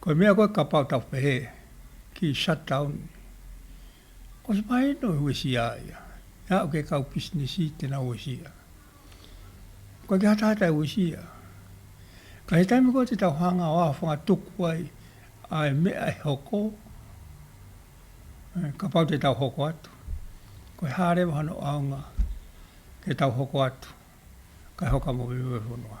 Kua mea koe ka pau tau whehē ki shutdown nei. Ko te pae no he wesi a ia, he a uke kau pisinisi tena wesi ia. Koe ki hatahata e wesi ia. Ka he taimi koe te tau hanga o a whanga tuku ai a e mea e hoko, ka pau te tau hoko atu. Koe hare waha no aunga ke tau hoko atu, kai hoka mo wewewe whenua.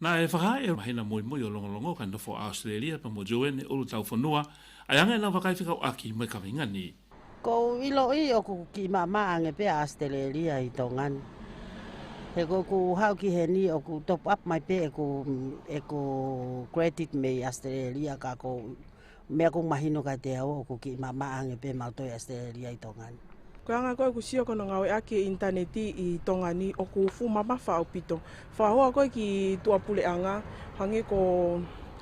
Nā, e whakaae e Mahina Moemoe o Longolongo ka nofo a Australia pa mo Joanne e ulu tau whanua, ai anga e nā whakaiwhikau aki mo e kawhe ngani. Ko ilo i o ku ki mama ange pe a Australia i to ngani. He ko ku hau ki he ni o ku top up mai pe e ku e ku credit me i Australia ka ko Me aku mahi no kai te ao o ku ki ma ma ange pe ma to ya ste ri ai tonga ni. Ko anga koe ku sio kono ngawe ake intaneti i tonga ni o ku fu ma ma fao pito. Fa hoa koe ki tua pule anga hange ko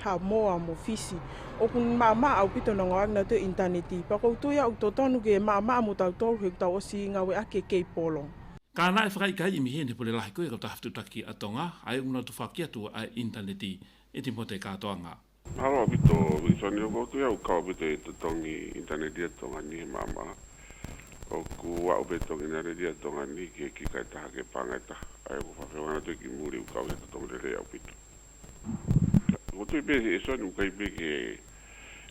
ha mo a mo fisi. O ku ma ma au pito no ngawe agna to intaneti. Pa kou to ya u to tonu ke ma ma mo tau tolu he ku tau osi ngawe ake kei polong. Ka na e whakai kai i mihi ne pule lahi koe ko ta haftu taki a tonga ai una tu fa ki atu a intaneti i timote ka to anga. Aroha me tō Wikisoni o koutou au ka wete i te tongi i tana ria tonga ni he māmā. Oku aʻu me tongi na re ria tonga ni ke ki kai taha ke pāngai taha. Ae oku whawhai o ana toi ki muri u kau he to tongi rere au pito. Ko toi me he soni u kai peke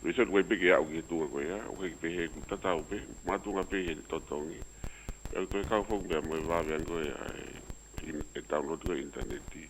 me soni u kai peke aʻu ki he tūnga koe a, u kai peke he ku tata au pe, mātūnga pei he to tongi. Au toi kau whau mea moe vāvea ngoe a e, e taunoti koe intaneti.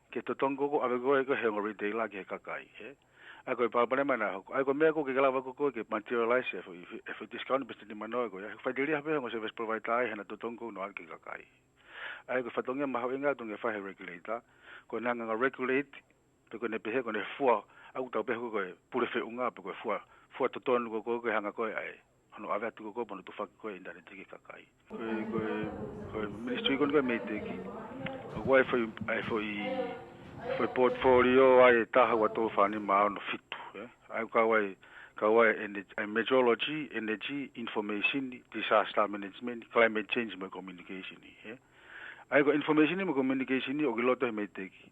Kei te tong koko, ako koe ko he ngori te ilaki he kakai, he. Ako i paupare mai na hoko. Ai ko mea koke ke lawa ko koe ke materialize e whi, e whi discount pe tini mano ai koe, ai ko whai diri hape hongo service provider ai he na to tong kou no ake kakai. Ai ko whatonge maho inga atu nge wha he regulator, ko na nganga regulate pe koe ne pehe koe ne whua, aku tau pehe koe pure whi unga pe koe whua, whua to tonu ko koe koe hanga koe ai. Ano awe atu ko koe manu to whaki koe ina re tiki kakai. Koe, koe, koe ministry koe nika mei teki. Ko koe foi, ai foi, foi portfolio ai e tahau a tō whani mā ono fitu. Eh? Ai kawai, kawai energy, ai meteorology, energy, information, disaster management, climate change me communication. Eh? Ai ko information me communication o ki loto he mei teki.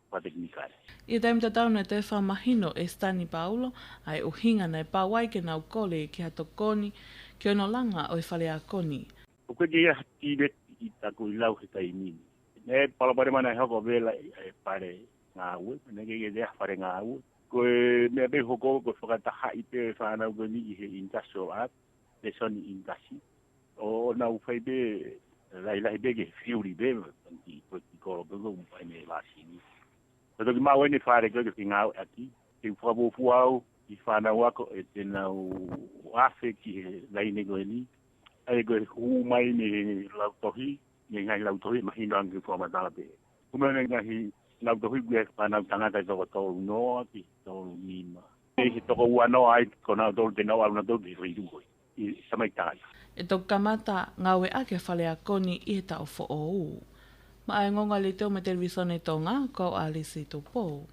Kua te Hinikai. I a Dame Tatau na te wha mahino e Stani Paulo, ae o Hingana e Pawai ke nau kole ki hato koni, ki ono langa oi whale a koni. Ko koe ke iha tireti i taku i lau he kai mimi. Me palapare mana e hoko vela i a he pare nga ue, me neke ke te aha pare nga ue. Ko e mea me hoko ko whakataha i te whanau koni i he Industrial Art, Te Soni Indusi. O na u whai be lai lai be ge fiuri be ki ko ki ko be go mai me la si ni. Ko to ki ma wene whare ko ki nga a ki te wha bo fu au i wha na wa ko e te na u a whe ki he lai ne go ni. Ai go hu mai me la to hi me ngai la to hi ma hi rang ki wha ma ta be. Ku me ngai hi la to hi ge wha na tanga ta ko to no ki to ni ma. He to ko wa no ai ko na to te no a na to ki ri du ko. i Samaitai. E toku kamata, ngawe ake whale a Koni i he tao whoou. Ma ae ngonga li teo me te Rwisone to nga, ko au Alice i to pou.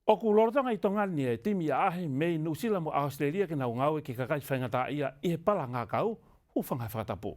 Oku rorotanga i to ngani e Tim i a Ahi me i New Zealand mo Australia kina o ngawe ki ka kai whainga ta ia i he para ngakau, u whangai whakatapu.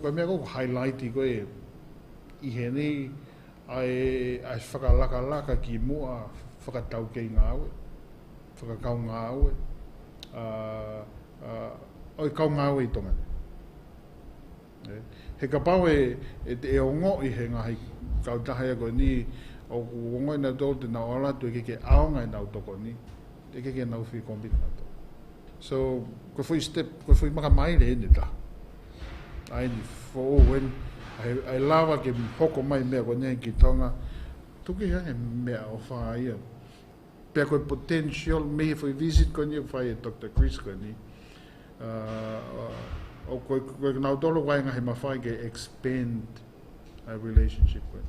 Kua mea koe, kua highlighti koe i hēnei ae whakalakalaka ki mua whakataukeinga aue, whakakaonga aue, ā, oi kaonga aue i tonga nei. He kapao e ongo i he ngahi kau tahea koe ni, oku ongoina tō te nau ala atu e keke aonga e nau toko ni, e keke nau whi kombina atu. So, kua whai step, kua whai makamaire ēnei taha. and for when I, I love ake hoko mai mea ko nei ki tonga tuki hea ke mea o whaia pia koe potential me for visit ko nei whaia Dr. Chris ko nei uh, uh, o koe koe kina utolo wai ngahi ma whai ke expand a relationship koe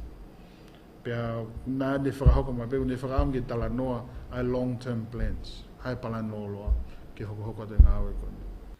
pia nā ne whakahoko mai pia ne whakaam ke tala noa a long term plans hai pala nō loa ke hoko hoko te ngāwe koe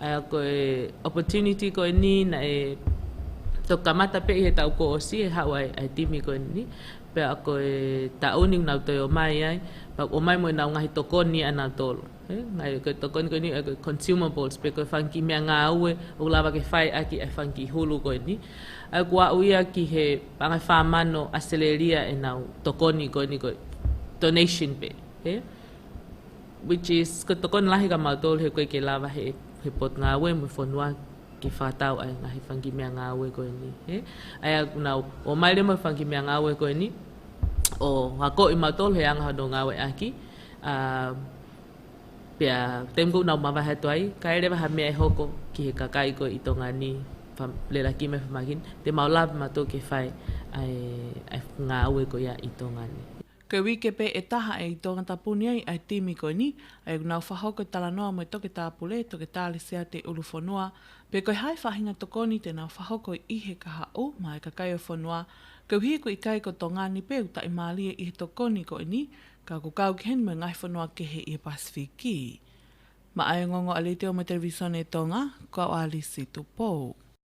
Ā, ko e opportunity koe nī na e to ka matape i he tau ko o si e hau ai ai timi koe nī, pea ko e ta uni nau toi o mai ai, pa o mai moe nau ngahi to ko nī ana tolu. He, ngai koe to ko nī koe nī e consumables pe koe whang ki mea ngā ue o la wake whai aki ai whang ki hulu koe nī. Ā, ko a uia ki he pangai wha mano a Seleria e nau to ko nī koe nī koe donation pe. He. which is ko tokona lahi ka mautolu he koe ke lawa he he pot ngawe me fonua ke whatau ai nga he fungi mea ngawe koe ni he ai a na o mai le mo fungi mea ngawe koe ni o ha ko i mautolu he anga no ngawe aki a pia tem go na mawa he toi ka ele ha mea e hoko ki he kakai koe i tonga ni le la ki me fmagin te mau love ma to ke fai ai ai ngawe koe i tonga ni Ke wi kepe e taha e i tonga tapuni ai ai timi koe ni, ai u nau whaho koe tala noa moe toke tāpule, toke tālisea te uru whonua, pe koe hai whahinga tokoni te nau whaho koe i he kaha u mae ka kai o whonua, ke uhi koe i kai ko tonga ni pe u tae mālie i he tokoni koe ni, ka ko kau ken moe ngahi whonua kehe i he Pasifik ki. Ma ai o ngongo a Litio mo televisione tonga, ko au Alice Tupou.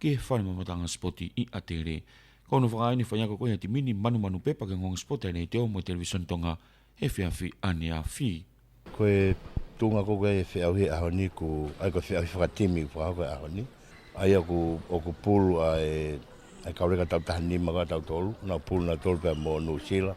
Ki he whare mamatanga spoti i Atere. Ka ono whakaae ni whai ako koe hei te mini manumanu pepa ki ngonga spoti anei te o mo Television Tonga he whiawhi ane a Fi. Ko e tunga ko koe e whiawhi e ahoni ko ai ko whiawhi whakatimi i whakahau koe ahoni ai aku oku pulu a e e kaore ka tau taha ni maka tau tolu na pulu na tolu pea mo New Zealand.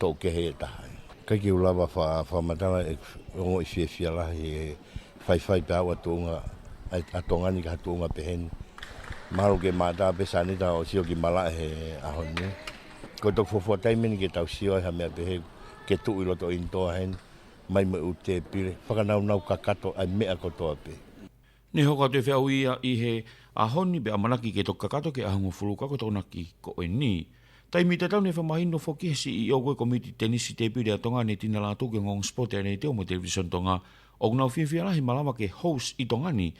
Tō kehe e taha ai. Kai ki ulawa wha wha matanga e ongo i fie fia lahi e whai whai pe awa tōnga a tōnga ni ka tōnga pe heni. Maro ke mātā pe sāne tā o sio ki mala he aho ni. Ko tō kufofua taimeni ke tau sio e hamea pe he ke tū i loto in tōa heni. Mai me u tē pire. Whakanau nau ka kato ai mea ko tōa pe. Nei hoka te whea o ia i he a honi be a manaki ke toka kato ke ahunga fulu kako tona ki ko e ni. Tai mi tatau nei whamahi no fo ki he CEO koe komiti tenisi te piri a tonga nei tina la toke ngong sport e nei te o mo television tonga ok nau fiafia la he malawa ke host i tonga ni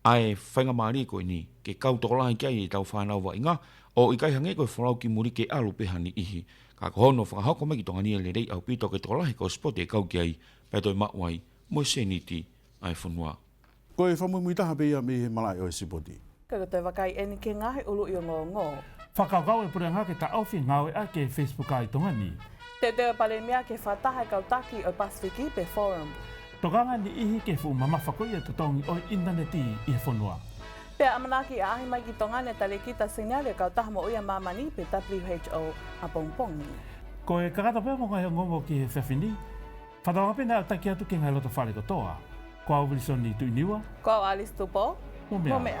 ae whainga marie koe ni ke kau toko la ki ai e tau whanau wa inga o i kai hange koe folau ki muri ke alu peha ni ihi ka koho no whakahoko mai ki tonga ni e le rei au pi toke toko la he ko sport e kau ki ai pe toi ma wai mo e seniti ae fonua. Ko e whamumui taha pe ia me he marae o Esipoti. Kei roto e Wakai e nike nga he ulu io ngo ngo. Whakagao e pure ngake ta Alfie ngawe ake e Facebook ai tonga ni. Te deo pare mea ke wha taha kau taki o Pacific i pe forum. Toganga ni ihi ke fu mama whako ia to tongi oi Internet i i he fonua. Pea a manaki a ahi mai ki tonga ne tare ki ta scenario kau taha mo uia mama ni pe who a pong pongi. Ko e kakata pea mo nga he ngo ngo ki he whewhi ni. Ka tauawhi nā taki atu ki ngai roto whare katoa. Ko au Wilson i Tuiniwa. Ko au Alice Tupo. Mo mea. Mo mea.